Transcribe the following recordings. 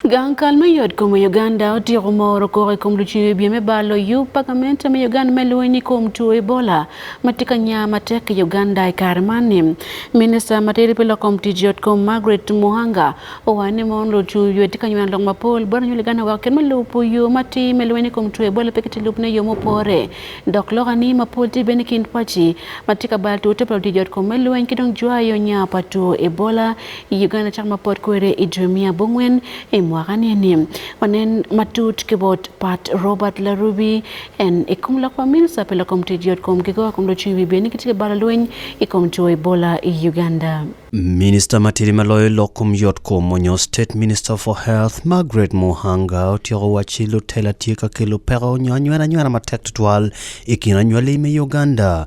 Gang kal me yotkom i Uganda otyeko moro koko i kom lucing wi bye me bar loyub pa gamente me Uganda me lweny i kom two Ebola ma tye ka nya matek i Uganda i kare man ni. Minista matidi pi lok kom tic yotkom Margaret Muhanga owaco ni mono lucung wi bye tye ka nyweno lok mapol bot anywen Uganda weko kit me lubo yo matir me lweny i kom two Ebola pe kitye lub ne yo mupore dok lok ani mapol tye bene i kin paci matye ka bal two te pa lutic yotkom me lweny ki dong jwayo nya pa two Ebola I Uganda cak ma pot kwede i dwe miya abongwen i mwaka ni eni. Wanen matut ki bot Pat Robert Larubi en i kom lok pa minista pi lokom tic yotkom ki go kun dong ocung i wi bed ni kitye ki balo lweny i kom two Ebola i Uganda. Minista matidi ma loyo lok kom yotkom onyo State Minister for Health Margaret Muhanga otyeko wacci lutela tye ka kelo peko onyo anywena anywena matek tutwal i kin anywali me Uganda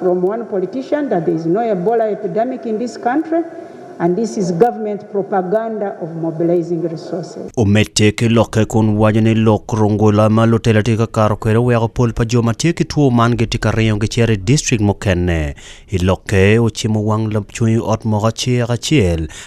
From one politician that there is no Ebola epidemic in this country and this is government propaganda of mobilizing resources. Omedde ki lokke kun waco ni lok rungula ma lutela tye ka kato kwede oweko pol pa jo ma tye ki two man gitye ka ringo gicito i district mukene i lokke. Ocimo wang lacwony ot moko acel acel.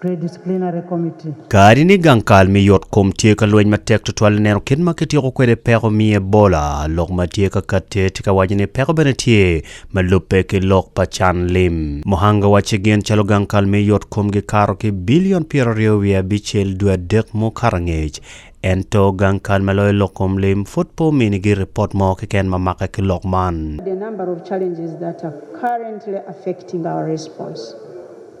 Kadi ni gang kal me yotkom tye ka lweny matek tutwal i neno kit ma kityeko kwede peko me Ebola, lok ma tye ka katte tye ka waco ni peko bene tye ma lubbe ki lok pa can lim. Muhanga wacci gin calo gang kal me yotkom gikato ki bilion pyeraryo wiye abicel dwe adek mukato angec, ento gang kal ma loyo lok kom lim pud pe ominigi ripot mo keken ma make ki lok man.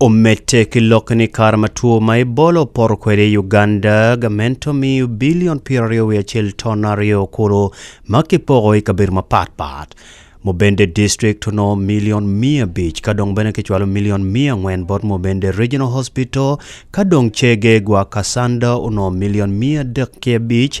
Omedde ki lokke ni kare ma two ma Ebola opoto kwede i Uganda, gamente omiyo bilion pyeraryo wiye acel ton aryo kulu ma kipoko i kabedo mapat pat. Mubende district onongo milion miya abic ka dong bene kicwalo milion miya angwen bot Mubende Regional Hospital ka dong cege gwa Kassanda onongo milion miya adek ki abic,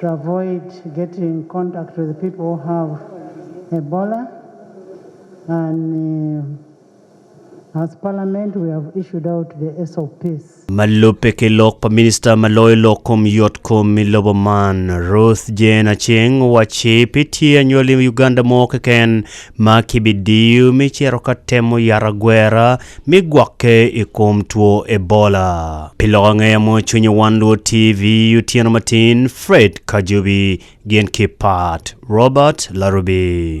to avoid getting contact with people who have Ebola and as parliament we have issued out the SOPs. Ma lubbe ki lok pa Minista ma loyo lok kom yot kom i lobo man, Ruth Jane Aceng owacci pe tye anywali i Uganda mo keken ma kibidiyo me cito ka temo yata gwera me gwokke i kom two Ebola. Pi loko ngeye mo cwinyo wan luwo TV otyeno matin Fred Kajubi gin ki Pat Robert Larubi.